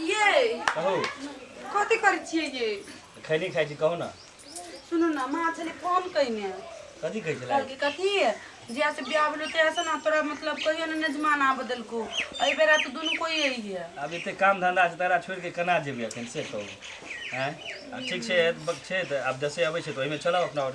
ये कहू कथी करै छियै ये खैनी खाइ छी कहू ने सुनू ने माँ छलै फोन कयने कथी कहै छलै कहलकै कथी जहिया से बियाह भेलो तहिया से ना तोरा मतलब कहियो ने नजमान आब देलको एहि बेरा तऽ दुनू कोई अइहे आब एते काम धंधा छै तकरा छोड़ि कऽ केना जेबै एखन से कहू आँय आ ठीक छै ब- छै तऽ आब जसे अबै छै तऽ ओहिमे चलब अपना आओर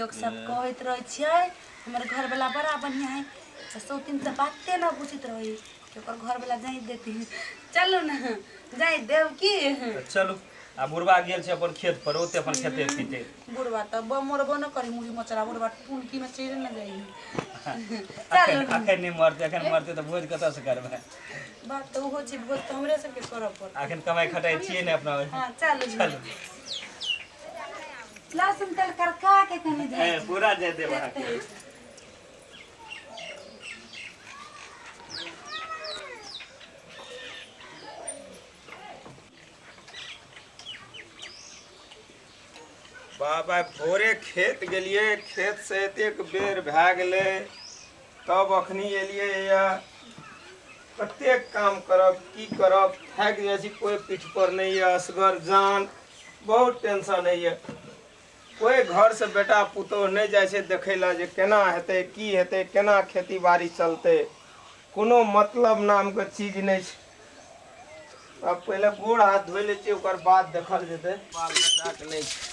लोग सब कहैत रहै छियै हमर घरवाला बड़ा बढ़िया है तो सौतिन तो बाते ना बुझित रही कि ओकर घरवाला जाई देती चलो ना जाई देव की तऽ चलू आ बुढ़वा गेल छै अपन खेत पर ओते अपन खेते पीते बुढ़वा तो ब- मरबो न करी मुड़ी मचरा बुढ़वा टुनकी में चढ़े न जाई चलो अखन ना अखन नहि मरतै अखन मरतै तऽ भोज कतऽ से करबै बात तो हो छै बहुत तो हमरे सबके करऽ पड़त अखन कमाइ खटाइ छियै ने अपना हाँ चलो चलू लहसुन तेल करका के कनी दे ए, पूरा दे देब अहाँके बाबा भोरे खेत गेलिए खेत से एतेक बेर भए गेलै तब अखनी एलिए या कतेक काम करब की करब थाकि जाइ छी कोइ पीठ पर नहि यऽ असगर जान बहुत टेंशन है ये कोई घर से बेटा पुतोह नहीं जाए से देखे ला जे केना हेते की हेते केना खेती बाड़ी चलते कोनो मतलब नाम के चीज नहीं छै अब पहले गोड़ हाथ धो ले छियै ओकर बाद देखल जेते बाल बच्चा के नहीं छै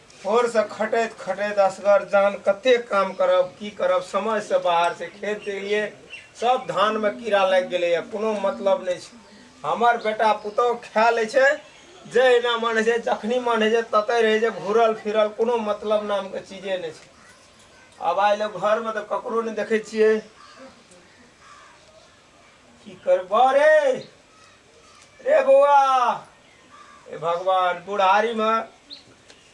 भोरसँ खटैत खटैत असगर जान कतेक काम करब की करब समयसँ बाहरसँ खेत एलियै सब धानमे कीड़ा लागि गेलैए कोनो मतलब नहि छै हमर बेटा पुतहु खा लै छै जहिना मन होइ छै जखनी मन होइ छै ततय रहै छै घूरल फिरल कोनो मतलब नामके चीजे नहि छै आब आइ लोक घरमे तऽ ककरो नहि देखै छियै की करबह रे रे बौआ ए भगवान बुढ़ारी में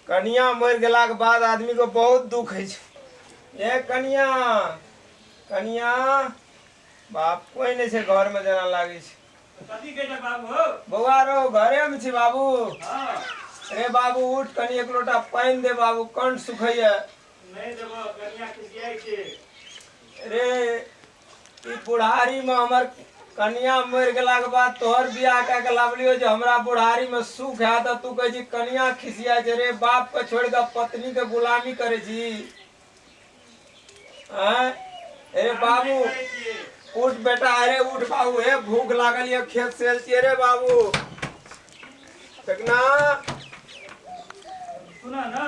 कनिया मर गेला के बाद आदमी को बहुत दुख है ए कनिया कनिया बाप कोई नहीं से घर में जाना लागे छे कथी कहै छह बाबू हौ बौआ रो घरे में छी बाबू हँ रे बाबू उठ कनी एक लोटा पानि दे बाबू कंठ सुखैया नहि देबह कनिया खिसियाइ छै रे ई बुढ़ारी में हमर कनिया मर गेला के बाद तोहर बियाह कऽ के लावलियो जे हमरा बुढ़ारी में सुख है त तू कहै छी कनिया खिसिया छै रे बाप के छोड़ के पत्नी के गुलामी करे छी हैं ए बाबू उठ बेटा अरे उठ बाबू हे भूख लागल ये खेत से आयल छियै रे बाबू देखना सुना ना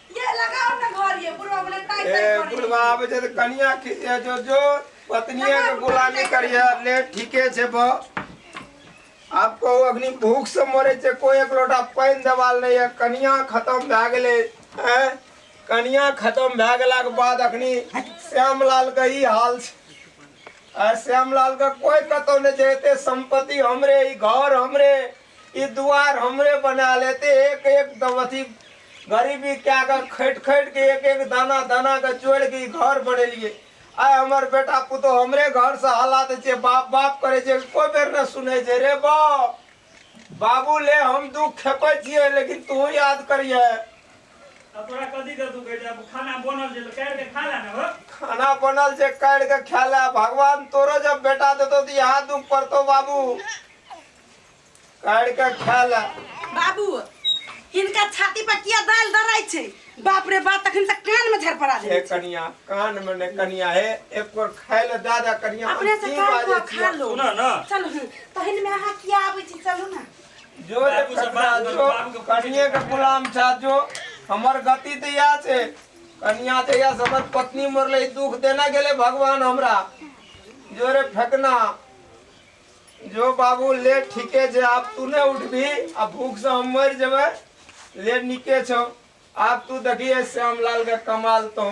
ये लगाओ ना घर ये बुढ़वा बोले टाइट ए टाइट करी। बुढ़वा आबे छै त कनिया खिसिया जो जो पत्निये के गुलामी करिया ले ठीके छै ब आपको अग्नि भूख से मरे छै कोई एक लोटा पानि देवाल नहीं है कनिया खत्म भए गेलै हैं कनिया खत्म भए गेलाक बाद अखनी श्यामलाल के ई हाल छै आ श्यामलाल के कोई कतौ नहि छै एते संपत्ति हमरे ई घर हमरे ई दुआर हमरे बना लेते एक एक दमथी गरीबी क्या कर खैट खैट के एक एक दाना दाना के चोर के घर बनेलिए आय हमर बेटा पुतो हमरे घर से हला दे छे बाप बाप करे छे कोई बेर न सुने छे रे बाप बाबू ले हम दुख खेपे छिए लेकिन तू याद करिए तोरा कदी कर तू कहै खाना बनल जे कैर के खा ला हो खाना बनल जे कैर के खा ला भगवान तोरो जब बेटा देतो त यहां दुख पड़तो बाबू काढ़ के खा ला बाबू हिनका छाती पर किया दाल दराई छै बाप रे बाप तखन से कान में झर पड़ा हे दे कनिया कान में ने कनिया हे एक बार खाय ले दादा कनिया हम अपने से की कान बाजै को छियै? खा लो सुनऽ न। चलू हँ, तहन में अहाँ किया आबै छी चलू ना जो रे बाबू से कनिया बात करू, जो बाबू के पूछी। कनिये के गुलाम छा जो हमर गति तऽ इएह छै कनिया तऽ इएह से हमर पत्नी मरले दुख देना गेले भगवान हमरा जो रे फेकना जो बाबू ले ठीके छै आब तू नहि उठबी आ भूख से हम मरि जेबै ले नीके छौ आब तू देखिए श्यामलाल के कमाल तो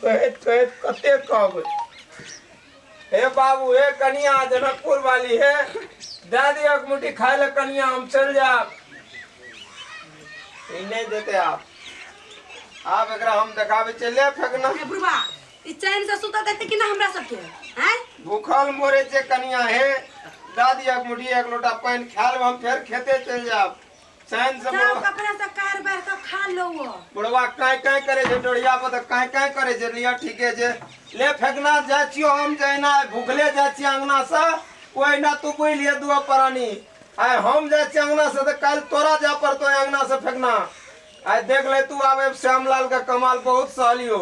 कहैत कहैत कते कहबै हे बाबू हे कनिया जनकपुर वाली हे दे दियो एक मुट्ठी खाय ले कनिया हम चल जाब ई नहि देते आब आब एकरा हम देखाबै छियै ले फेकना बुढ़वा ई चैन से सुतऽ देते कि ना हमरा सबके हैं भूखल मोरे जे कनिया हे दादी एक मुठी एक लोटा पानि खा लेब हम फेर खेते चलि जायब चैन से जाओ बुढ़वा कपड़ा से कार बार के खा लो वो बुढ़वा काँय काँय करे छै डोरिया पर तऽ काँय काँय करे छै लिअ ठीके छै ले फेकना जाइ छियो हम जहिना भूखले जाइ छियै अङ्गना से ओहिना तू बुझि लिअ दुआ प्राणी आइ हम जाइ छियै अङ्गना से तऽ काल्हि तोरा जाय पड़तो अङ्गना से फेकना आइ देख ले तू आब श्यामलाल के कमाल बहुत सहलियो